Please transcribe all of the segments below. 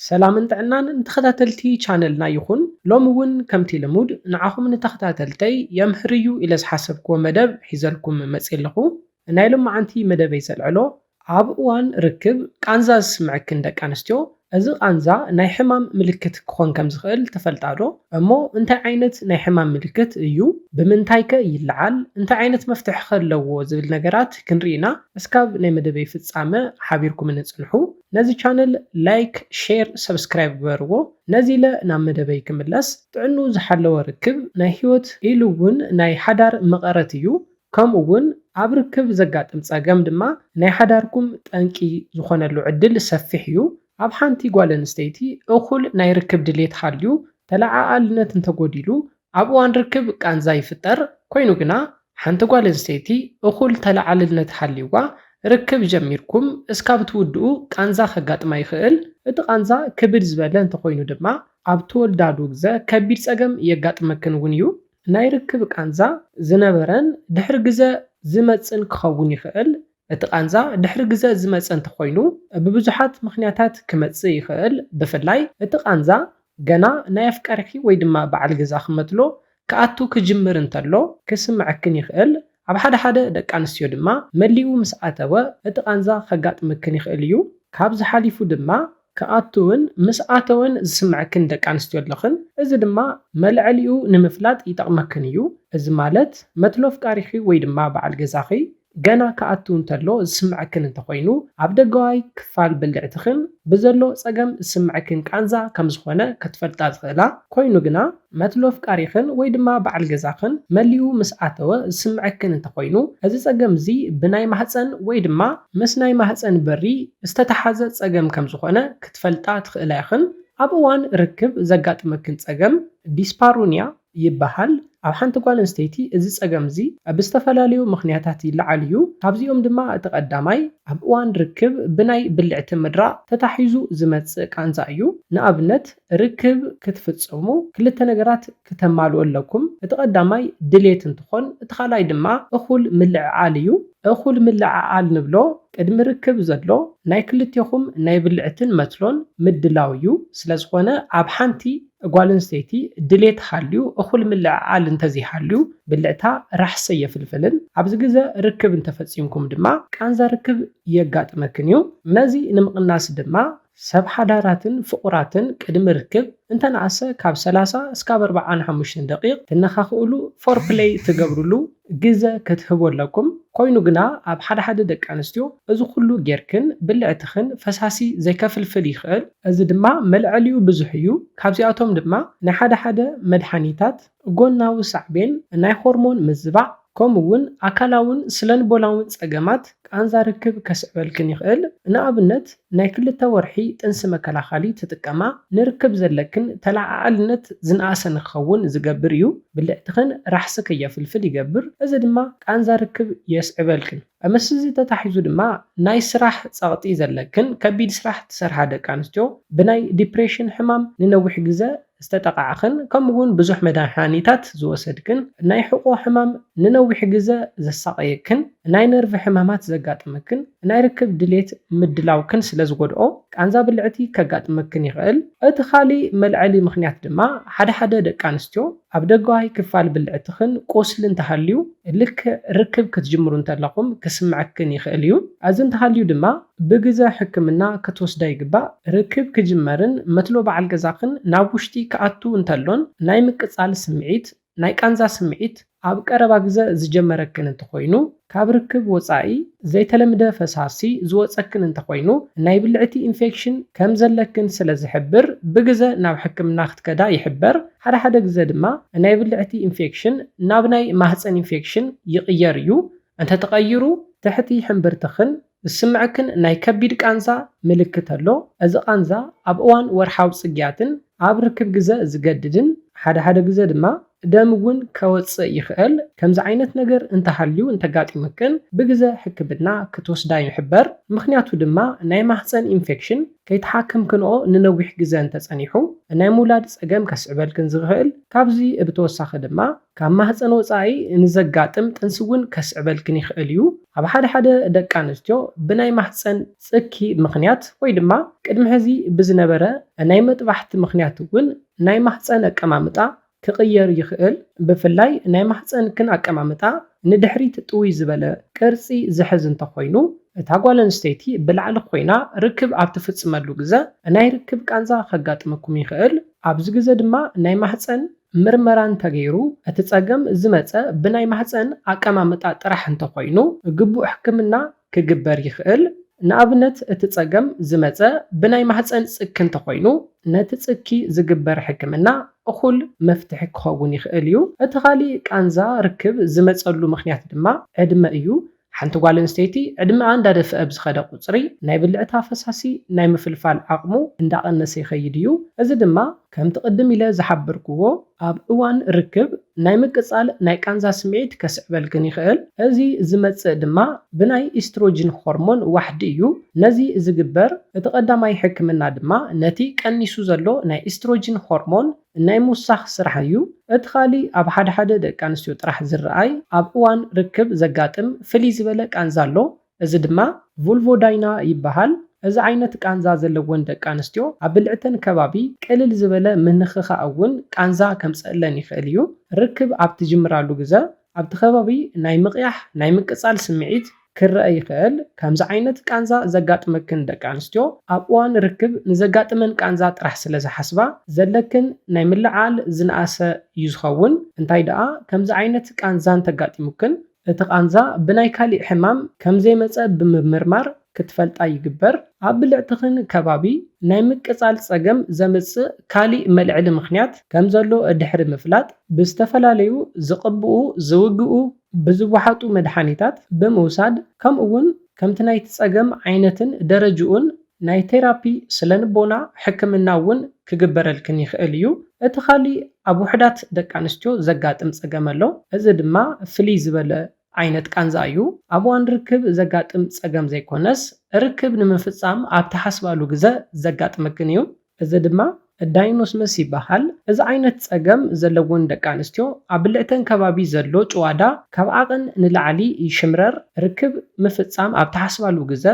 ሰላምን ጥዕናን ንተኸታተልቲ ቻነልና ይኹን፣ ሎሚ ውን ከምቲ ልሙድ ንዓኹም ንተኸታተልተይ የምህር እዩ ኢለ ዝሓሰብክዎ መደብ ሒዘልኩም መጽየ ኣለኹ። ንናይ ሎምዓንቲ መደበይ ዘልዕሎ፣ ኣብ እዋን ርክብ ቃንዛ ዝስምዐክን ደቂ ኣንስትዮ፣ እዚ ቃንዛ ናይ ሕማም ምልክት ክኾን ከም ዝኽእል ትፈልጣ ዶ? እሞ እንታይ ዓይነት ናይ ሕማም ምልክት እዩ? ብምንታይ ከ ይለዓል? እንታይ ዓይነት መፍትሒ ከ ኣለዎ? ዝብል ነገራት ክንርኢ ኢና። እስካብ ናይ መደበይ ፍጻመ ሓቢርኩምኒ ጽንሑ። ነዚ ቻነል ላይክ ሼር ሰብስክራይብ ግበርዎ ነዚለ ናብ መደበይ ክምለስ ጥዕንኡ ዝሓለወ ርክብ ናይ ሂወት ኢሉ ውን ናይ ሓዳር መቐረት እዩ ከምኡ ውን ኣብ ርክብ ዘጋጥም ጸገም ድማ ናይ ሓዳርኩም ጠንቂ ዝኾነሉ ዕድል ሰፊሕ እዩ ኣብ ሓንቲ ጓል ኣንስተይቲ እኹል ናይ ርክብ ድሌት ሃልዩ ተለዓኣልነት እንተጎዲሉ ኣብ እዋን ርክብ ቃንዛ ይፍጠር፣ ኮይኑ ግና ሓንቲ ጓል ኣንስተይቲ እኹል ተለዓልልነት ሃልይዋ ርክብ ጀሚርኩም እስካብ ትውድኡ ቃንዛ ከጋጥማ ይኽእል፣ እቲ ቃንዛ ክብድ ዝበለ እንተኾይኑ ድማ ኣብ ትወልዳሉ ግዘ ከቢድ ፀገም የጋጥመክን እውን እዩ። ናይ ርክብ ቃንዛ ዝነበረን ድሕሪ ግዘ ዝመፅእን ክኸውን ይኽእል፣ እቲ ቃንዛ ድሕሪ ግዘ ዝመፀ እንተኾይኑ ብብዙሓት ምኽንያታት ክመፅእ ይኽእል ብፍላይ እቲ ቃንዛ ገና ናይ ኣፍቃሪኺ ወይ ድማ በዓል ገዛኺ መትሎ ክኣቱ ክጅምር እንተሎ ክስመዐክን ይኽእል ኣብ ሓደ ሓደ ደቂ ኣንስትዮ ድማ መሊኡ ምስ ኣተወ እቲ ቃንዛ ከጋጥመክን ይኽእል እዩ ካብዚ ሓሊፉ ድማ ክኣትውን ምስ ኣተወን ዝስምዐክን ደቂ ኣንስትዮ ኣለኽን እዚ ድማ መልዐሊኡ ንምፍላጥ ይጠቕመክን እዩ እዚ ማለት መትሎ ኣፍቃሪኺ ወይ ድማ በዓል ገዛኺ ገና ክኣትው እንተሎ ዝስምዐክን እንተኾይኑ ኣብ ደገዋይ ክፋል ብልዕትኽን ብዘሎ ፀገም ዝስምዐክን ቃንዛ ከምዝኾነ ከትፈልጣ ዝኽእላ ኮይኑ ግና መትሎ ኣፍቃሪኽን ወይ ድማ በዓል ገዛኽን መሊኡ ምስ ኣተወ ዝስምዐክን እንተኾይኑ፣ እዚ ፀገም እዚ ብናይ ማህፀን ወይ ድማ ምስ ናይ ማህፀን በሪ ዝተተሓዘ ፀገም ከምዝኾነ ክትፈልጣ ትኽእላ ኢኽን። ኣብ እዋን ርክብ ዘጋጥመክን ፀገም ዲስፓሩኒያ ይበሃል። ኣብ ሓንቲ ጓል ኣንስተይቲ እዚ ፀገም እዚ ብዝተፈላለዩ ምኽንያታት ይለዓል እዩ። ካብዚኦም ድማ እቲ ቀዳማይ ኣብ እዋን ርክብ ብናይ ብልዕቲ ምድራቕ ተታሒዙ ዝመፅእ ቃንዛ እዩ። ንኣብነት። ርክብ ክትፍጽሙ ክልተ ነገራት ክተማልኡ ኣለኩም። እቲ ቀዳማይ ድሌት እንትኾን እቲ ካልኣይ ድማ እኹል ምልዕዓል እዩ። እኹል ምልዕዓል ንብሎ ቅድሚ ርክብ ዘሎ ናይ ክልቴኹም ናይ ብልዕትን መትሎን ምድላው እዩ። ስለዝኾነ ኣብ ሓንቲ ጓል ኣንስተይቲ ድሌት ሃልዩ እኹል ምልዕዓል እንተዘይሃልዩ ብልዕታ ራሕሲ ኣየፍልፍልን። ኣብዚ ግዘ ርክብ እንተፈጺምኩም ድማ ቃንዛ ርክብ የጋጥመክን እዩ። ነዚ ንምቕናስ ድማ ሰብ ሓዳራትን ፍቑራትን ቅድሚ ርክብ እንተነኣሰ ካብ ሰላሳ እስካብ ኣርብዓን ሓሙሽተን ደቒቕ ትነኻኽእሉ፣ ፎርፕለይ፣ ትገብርሉ ግዘ ክትህቡ ኣለኩም። ኮይኑ ግና ኣብ ሓደ ሓደ ደቂ ኣንስትዮ እዚ ኩሉ ጌርክን ብልዕትኽን ፈሳሲ ዘይከፍልፍል ይኽእል። እዚ ድማ መልዐሊኡ ብዙሕ እዩ። ካብዚኣቶም ድማ ናይ ሓደ ሓደ መድሓኒታት፣ ጎናዊ ሳዕቤን ናይ ሆርሞን ምዝባዕ፣ ከምኡ እውን ኣካላውን ስለንቦናውን ጸገማት ቃንዛ ርክብ ከስዕበልክን ይኽእል፣ ንኣብነት ናይ ክልተ ወርሒ ጥንሲ መከላኸሊ ትጥቀማ፣ ንርክብ ዘለክን ተለዓዓልነት ዝነኣሰ ንክኸውን ዝገብር እዩ፣ ብልዕትኽን ራሕሲ ከየፍልፍል ይገብር፣ እዚ ድማ ቃንዛ ርክብ የስዕበልክን። ምስዚ ተታሒዙ ድማ ናይ ስራሕ ጸቕጢ ዘለክን ከቢድ ስራሕ ትሰርሓ ደቂ ኣንስትዮ፣ ብናይ ዲፕሬሽን ሕማም ንነዊሕ ግዘ ዝተጠቓዕኽን ከምኡ'ውን ብዙሕ መድሃኒታት ዝወሰድክን፣ ናይ ሕቖ ሕማም ንነዊሕ ግዘ ዘሳቐየክን፣ ናይ ነርቭ ሕማማት ዘጋጥመክን፣ ናይ ርክብ ድሌት ምድላውክን ስለ ዝጎድኦ ቃንዛ ብልዕቲ ከጋጥመክን ይኽእል። እቲ ካልእ መልዐሊ ምኽንያት ድማ ሓደ ሓደ ደቂ ኣንስትዮ፣ ኣብ ደገዋይ ክፋል ብልዕትኽን ቁስሊ እንተሃልዩ፣ ልክዕ ርክብ ክትጅምሩ እንተለኹም ክስምዐክን ይኽእል እዩ። ኣዚ እንተሃልዩ ድማ ብግዘ ሕክምና ክትወስዳ ይግባእ። ርክብ ክጅመርን መትሎ በዓል ገዛኽን ናብ ውሽጢ ክኣቱ እንተሎን ናይ ምቅጻል ስምዒት፣ ናይ ቃንዛ ስምዒት ኣብ ቀረባ ግዘ ዝጀመረክን እንተኾይኑ፣ ካብ ርክብ ወጻኢ ዘይተለምደ ፈሳሲ ዝወጸክን እንተኾይኑ ናይ ብልዕቲ ኢንፌክሽን ከም ዘለክን ስለ ዝሕብር ብግዘ ናብ ሕክምና ክትከዳ ይሕበር። ሓደ ሓደ ግዘ ድማ ናይ ብልዕቲ ኢንፌክሽን ናብ ናይ ማህጸን ኢንፌክሽን ይቕየር እዩ። እንተተቐይሩ ትሕቲ ሕምብርትኽን ዝስምዐክን ናይ ከቢድ ቃንዛ ምልክት ኣሎ። እዚ ቃንዛ ኣብ እዋን ወርሓዊ ጽግያትን ኣብ ርክብ ግዘ ዝገድድን ሓደ ሓደ ግዘ ድማ ደም እውን ከወጽእ ይኽእል። ከምዚ ዓይነት ነገር እንተሃልዩ እንተጋጢሙክን ብግዘ ሕክምና ክትወስዳ ይሕበር። ምኽንያቱ ድማ ናይ ማህጸን ኢንፌክሽን ከይተሓከምክንኦ ንነዊሕ ግዘ እንተጸኒሑ ናይ ምውላድ ጸገም ከስዕበልክን ዝኽእል ካብዚ ብተወሳኺ ድማ ካብ ማህጸን ወጻኢ ንዘጋጥም ጥንሲ እውን ከስዕበልክን ይኽእል እዩ። ኣብ ሓደ ሓደ ደቂ ኣንስትዮ ብናይ ማህጸን ጽኪ ምኽንያት ወይ ድማ ቅድሚ ሕዚ ብዝነበረ ናይ መጥባሕቲ ምኽንያት እውን ናይ ማህጸን ኣቀማምጣ ክቕየር ይኽእል። ብፍላይ ናይ ማህጸንክን ኣቀማምጣ ንድሕሪት ጥውይ ዝበለ ቅርጺ ዝሕዝ እንተኾይኑ እታ ጓል ኣንስተይቲ ብላዕሊ ኮይና ርክብ ኣብ ትፍጽመሉ ግዘ ናይ ርክብ ቃንዛ ከጋጥመኩም ይኽእል። ኣብዚ ግዘ ድማ ናይ ማህጸን ምርመራ እንተገይሩ እቲ ፀገም ዝመፀ ብናይ ማህፀን ኣቀማምጣ ጥራሕ እንተኾይኑ ግቡእ ሕክምና ክግበር ይኽእል። ንኣብነት እቲ ፀገም ዝመፀ ብናይ ማህፀን ፅኪ እንተኾይኑ ነቲ ፅኪ ዝግበር ሕክምና እኹል መፍትሒ ክኸውን ይኽእል እዩ። እቲ ካሊእ ቃንዛ ርክብ ዝመፀሉ ምኽንያት ድማ ዕድመ እዩ። ሓንቲ ጓል ኣንስተይቲ ዕድመኣ እንዳደፍኣ ብዝኸደ ቁጽሪ ናይ ብልዕታ ፈሳሲ ናይ ምፍልፋል ዓቕሙ እንዳቐነሰ ይኸይድ እዩ፣ እዚ ድማ ከምቲ ቅድም ኢለ ዝሓበርክዎ ኣብ እዋን ርክብ ናይ ምቅጻል ናይ ቃንዛ ስምዒት ከስዕበልክን ይኽእል፣ እዚ ዝመጽእ ድማ ብናይ ኢስትሮጂን ሆርሞን ዋሕዲ እዩ፣ ነዚ ዝግበር እቲ ቀዳማይ ሕክምና ድማ ነቲ ቀኒሱ ዘሎ ናይ ኢስትሮጂን ሆርሞን ናይ ምውሳኽ ስራሕ እዩ። እቲ ካልእ ኣብ ሓደ ሓደ ደቂ ኣንስትዮ ጥራሕ ዝረኣይ ኣብ እዋን ርክብ ዘጋጥም ፍልይ ዝበለ ቃንዛ ኣሎ። እዚ ድማ። ቭልቮዳይና ይበሃል። እዚ ዓይነት ቃንዛ ዘለወን ደቂ ኣንስትዮ ኣብ ብልዕተን ከባቢ ቅልል ዝበለ ምንኽኻእ እውን ቃንዛ ከምፀእለን ይኽእል እዩ። ርክብ ኣብ ትጅምራሉ ግዘ ኣብቲ ከባቢ ናይ ምቕያሕ ናይ ምቅፃል ስምዒት፣ ክረኣ ይኽእል። ከምዚ ዓይነት ቃንዛ ዘጋጥመክን ደቂ ኣንስትዮ ኣብ እዋን ርክብ ንዘጋጥመን ቃንዛ ጥራሕ ስለ ዝሓስባ ዘለክን ናይ ምልዕዓል ዝነኣሰ ዩ ዝኸውን። እንታይ ደኣ ከምዚ ዓይነት ቃንዛ እንተጋጢሙክን እቲ ቃንዛ ብናይ ካሊእ ሕማም ከም ዘይመጸ ብምምርማር ክትፈልጣ ይግበር። ኣብ ብልዕትኽን ከባቢ ናይ ምቅጻል ጸገም ዘምጽእ ካሊእ መልዕሊ ምኽንያት ከም ዘሎ ድሕሪ ምፍላጥ ብዝተፈላለዩ ዝቅብኡ፣ ዝውግኡ፣ ብዝወሓጡ መድሓኒታት ብምውሳድ ከምኡ'ውን ከምቲ ናይቲ ጸገም ዓይነትን ደረጅኡን ናይ ቴራፒ ስለንቦና ሕክምና እውን ክግበረልክን ይኽእል እዩ። እቲ ካልእ ኣብ ውሑዳት ደቂ ኣንስትዮ ዘጋጥም ጸገም ኣሎ። እዚ ድማ ፍልይ ዝበለ ዓይነት ቃንዛ እዩ። ኣብ እዋን ርክብ ዘጋጥም ጸገም ዘይኮነስ፣ ርክብ ንምፍጻም ኣብ ትሓስባሉ ግዘ ዘጋጥመክን እዩ። እዚ ድማ ዳይኖስመስ ይበሃል። እዚ ዓይነት ፀገም ዘለወን ደቂ ኣንስትዮ ኣብ ብልዕተን ከባቢ ዘሎ ጭዋዳ ካብ ዓቐን ንላዕሊ ይሽምረር፣ ርክብ ምፍፃም ኣብ ትሓስባሉ ግዘ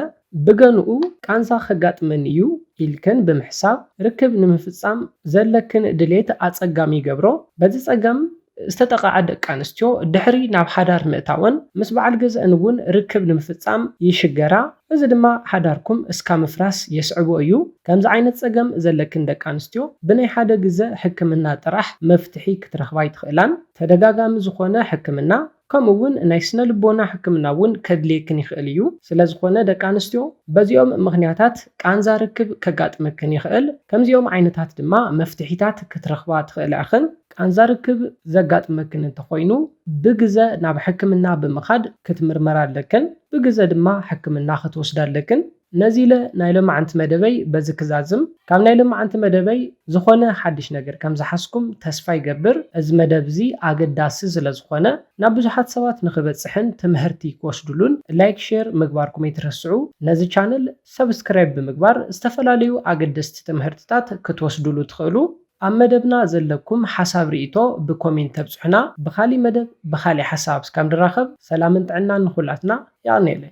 ብገንኡ ቃንዛ ከጋጥመን እዩ ኢልክን ብምሕሳብ ርክብ ንምፍፃም ዘለክን ድሌት ኣፀጋሚ ይገብሮ። በዚ ፀገም ዝተጠቕዓ ደቂ ኣንስትዮ ድሕሪ ናብ ሓዳር ምእታወን ምስ በዓል ገዝኣን እውን ርክብ ንምፍፃም ይሽገራ። እዚ ድማ ሓዳርኩም እስካ ምፍራስ የስዕቦ እዩ። ከምዚ ዓይነት ፀገም ዘለክን ደቂ ኣንስትዮ ብናይ ሓደ ግዘ ሕክምና ጥራሕ መፍትሒ ክትረኽባ ኣይትኽእላን። ተደጋጋሚ ዝኾነ ሕክምና ከምኡ እውን ናይ ስነ ልቦና ሕክምና እውን ከድልየክን ይኽእል እዩ። ስለዝኾነ ደቂ ኣንስትዮ በዚኦም ምኽንያታት ቃንዛ ርክብ ከጋጥመክን ይኽእል። ከምዚኦም ዓይነታት ድማ መፍትሒታት ክትረኽባ ትኽእላ ኢኽን። ቃንዛ ርክብ ዘጋጥመክን እንተኾይኑ ብግዘ ናብ ሕክምና ብምኻድ ክትምርመራ ኣለክን። ብግዘ ድማ ሕክምና ክትወስዳ ኣለክን። ነዚ ኢለ ናይ ሎማዕንቲ መደበይ በዚ ክዛዝም። ካብ ናይ ሎማዕንቲ መደበይ ዝኾነ ሓድሽ ነገር ከም ዝሓዝኩም ተስፋ ይገብር። እዚ መደብ እዚ ኣገዳሲ ስለ ዝኾነ ናብ ብዙሓት ሰባት ንኽበጽሕን ትምሀርቲ ክወስድሉን ላይክ ሼር ምግባርኩም ኣይትረስዑ። ነዚ ቻነል ሰብስክራይብ ብምግባር ዝተፈላለዩ ኣገደስቲ ትምሀርትታት ክትወስድሉ ትኽእሉ። ኣብ መደብና ዘለኩም ሓሳብ ሪኢቶ ብኮሜንት ተብጽሑና። ብኻሊእ መደብ ብኻሊእ ሓሳብ እስካብ ንራኸብ ሰላምን ጥዕናን ንኹላትና። የቐንየለይ።